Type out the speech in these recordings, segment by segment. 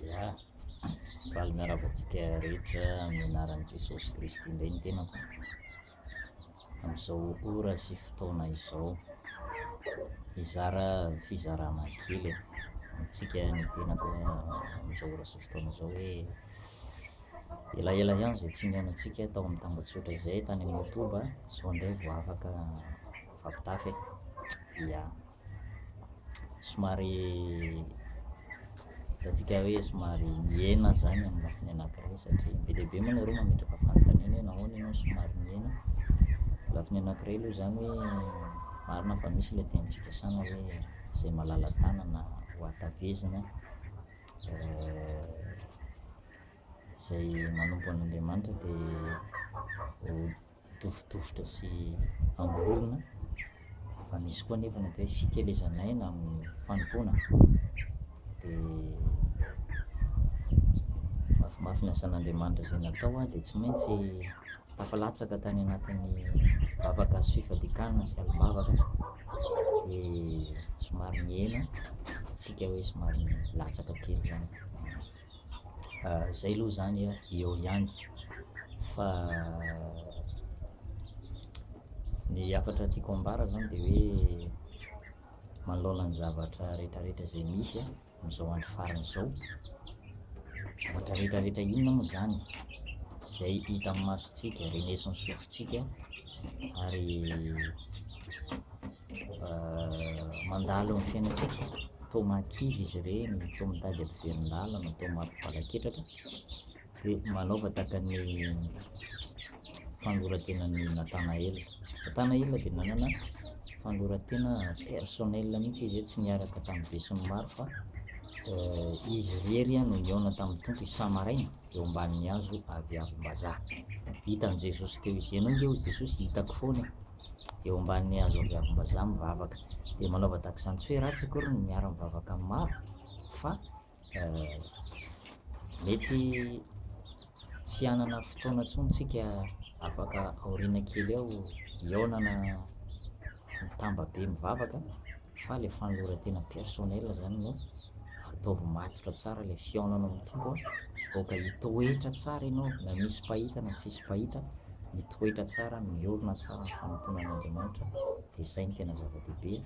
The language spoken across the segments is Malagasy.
Ya, faly miarahaba antsika rehetra amin'ny anaran'i Jesosy Kristy indray ny tenako. Amin'izao ora sy fotoana izao, hizara fizarana kely amintsika ny tenako amin'izao ora sy fotoana izao hoe elaela ihany izay tsy nihaonantsika tao amin'ny tambajotra izay tany amin'ny YouTube sao indray vao afaka mifampitafy e. Ya. somary hitantsika hoe somary mihena zany amin'ny lafiny anankiray satria be dia be moa nareo mametraka fanontaniana hoe nahoana ianao somary mihena lafiny anankiray aloha zany hoe marina fa misy ilay teny fikasana hoe izay malala-tanana ho hatavezina Eh, izay manompo an'Andriamanitra dia ho dofodofotra sy angorona, fa misy koa nefa ny atao hoe fikelezan'aina amin'ny fanompoana. Dia mafimafy ny asan'Andriamanitra izay natao aho dia tsy maintsy tafalatsaka tany anatin'ny vavaka sy fifadikanana sy alim-bavaka dia somary nihena, hetsika hoe somary latsaka kely izany. zay aloha zany eo ihany fa ny hafatra tiako ambara zany de hoe manoloana ny zavatra retraretra zay misy amizao andro farany zao zavatra retraretra inona moa zany zay hita amin'ny masotsika renesin'ny sofintsika ary mandalo ny fiainantsika, toa mahakivy izy ireny, toa mitady ampiverin-dalana, toa mampivalak'etraka, dia manaova tahaka ny fanoran-tenan'i Natanael. Natanael dia nanana fanoran-tena personnel mihitsy izy, tsy niaraka tamin'ny besin'ny maro fa eh, izy irery no nihaona tamin'ny Tompo isa-maraina eo ambanin'ny hazo avy avim-bazaha. Hitan'i Jesosy teo izy. Ianao nge hoy Jesosy, hitako foana. eo ambanin'ny hazo aviavim-bazaha mivavaka. Dia manaova tahaka izany, tsy hoe ratsy akory ny miara-mivavaka amin'ny maro, fa mety tsy hanana fotoana intsony tsika afaka aoriana kely eo hihaonana mitamba be mivavaka, fa le fanolorantena personnel zany no ataovy matotra tsara le fihaonanao am Tompo a, aoka hitoetra tsara ianao na misy mpahita na tsisy mpahita, mitoetra tsara, miorina tsara am fanompoana an Andriamanitra, de zay no tena zava-dehibe,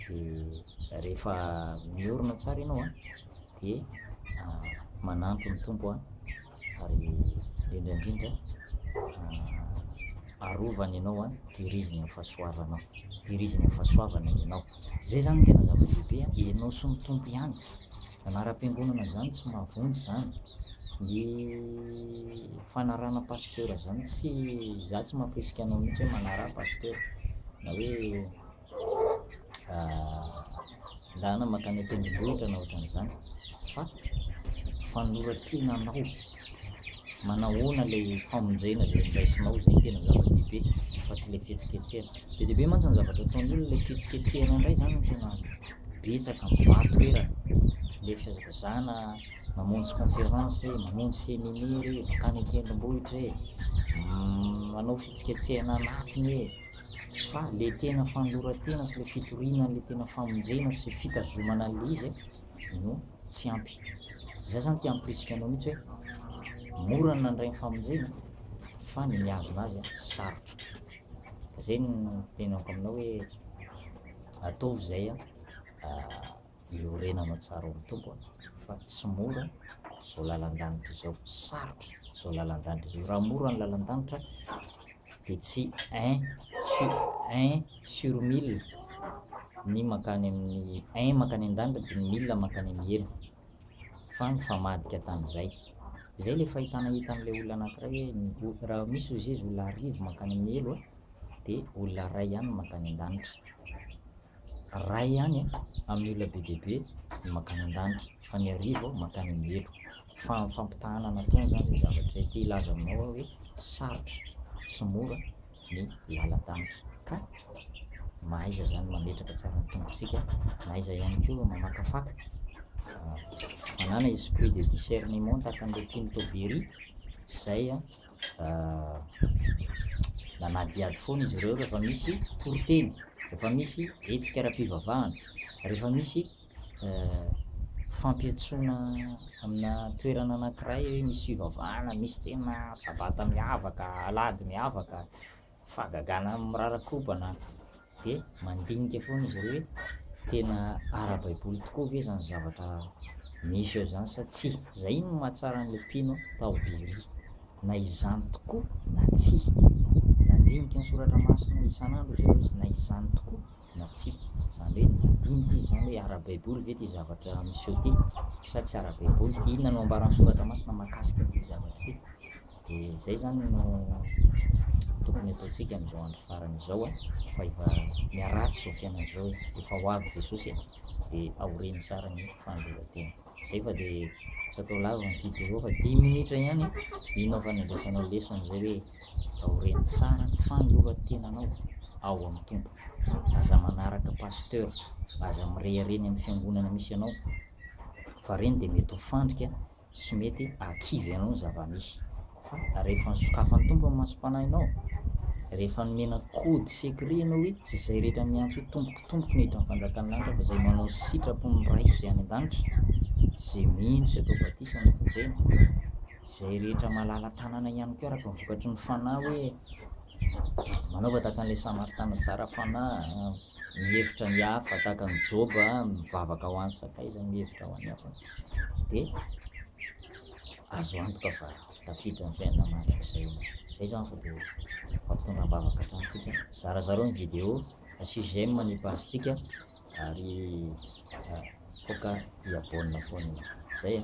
de rehefa miorina tsara ianao a de manantro ny Tompo a. ary indrindra indrindra arovany ianao an tehiriziny amin'ny fahasoavana tehiriziny amin'ny fahasoavana ianao zay zany no tena zava-dehibe an ianao sy ny tompo ihany anaram-piangonana zany tsy mahavonjy zany ny fanarahana pasitera zany tsy za tsy mampirisika anao mihitsy hoe manaraha pasitera na hoe lalana mankany an-tendrombohitra na ohatran'izany fa fanoloran-tena anao manahoana ilay famonjena izay niraisinao izay tena zava-dehibe fa tsy ilay fihetsiketsehana be dia be mantsy ny zavatra ataon'ny olona ilay fihetsiketsehana indray izany no tena betsaka mibary toerana ilay fihazakazahana mamonjy conférence e mamonjy séminaire e mankany an-tendrombohitra e manao fihetsiketsehana anatiny e fa le tena fanoloran-tena sy le fitoriana an'le tena famonjena sy fitazomana an'le izy no tsy ampy zay zany te hampirisika anao mihitsy hoe mora ny nandray ny famonjena fa ny mihazona azy sarotra ka zay no tenako aminao hoe ataovy zay a Dia orenanao tsara ao amin'ny Tompo an! fa tsy mora izao lalan-danitra izao, sarotra izao lalan-danitra izao, raha mora ny lalan-danitra dia tsy un sur un sur mille ny mankany amin'ny un mankany an-danitra dia ny mille mankany amin'ny helo fa mifamadika tamin'izay izay ilay fahitana hitan'ilay olona anankiray hoe raha misy ozy izy olona arivo mankany amin'ny helo dia olona iray ihany mankany an-danitra iray ihany amin'ny olona be dia be ny mankany an-danitra fa ny arivo mankany amin'ny helo. Fa ny fampitahana nataony izany izay zavatra izay te hilaza aminao aho hoe sarotra sy mora ny lalan-danitra ka mahaiza izany mametraka tsara ny tongotsika, mahaiza ihany koa mamakafaka. Manana esprit de discernement tahaka an'ilay Pinto Berry izay manadihady foana izy ireo rehefa misy toriteny, rehefa misy hetsika ara-pivavahana, rehefa misy fampiantsoana amina toerana anankiray hoe misy fivavahana, misy tena sabata miavaka, alahady miavaka, fahagagana mirara-kobana. dia mandinika foana izy ireo hoe tena ara-baiboly tokoa ve izany zavatra misy eo izany sa tsia. Izay no mahatsara an'ilay mpino tao Beria, na izany tokoa na tsia. Nandinika ny Soratra Masina isan'andro izy ireo, na izany tokoa na tsia. Izany hoe nandinika izy izany hoe ara-baiboly ve ity zavatra miseho ity sa tsy ara-baiboly, inona no ambaran'ny Soratra Masina mahakasika ity zavatra ity. Dia izay izany no tokony hataontsika amin'izao andro farany izao a, fa efa miharatsy izao fiainana izao e, efa ho avy Jesosy e, dia aoreno tsara ny fandoroan-tena. Izay fa dia tsy atao lava ny video fa dimy minitra ihany e, inona aho fandraisanao lesona izay hoe aoreno tsara ny fanoloran-tenanao ao amin'ny Tompo. Aza manaraka pasteur, aza mirehareha ny amin'ny fiangonana misy anao, fa ireny dia mety ho fandrika Tsy mety hakivy anao ny zava-misy. Fa rehefa nosokafan'ny Tompo ny masom-panahinao, rehefa nomena code secret ianao hoe tsy izay rehetra miantso hoe Tompoko, Tompoko no hiditra amin'ny fanjakan'ny lanitra fa izay manao sitrapon'ny Raiko izay any an-danitra, izay mino sy atao batisa no vonjena. Izay rehetra malala tanana ihany koa araka ny vokatry ny fanahy hoe manaova tahaka an'ilay Samaritana tsara fanahy, mihevitra ny hafa tahaka an'i Joba mivavaka ho an'ny sakaizany mihevitra ho an'ny hafa dia azo antoka fa tafiditra ny fiainana mandrakizay ianao izay zany fa dia fampitondra am-bavaka hatranintsika zarazarao ny vidéo asio j'aime ny page-tsika ary aoka hiabonina foana izay a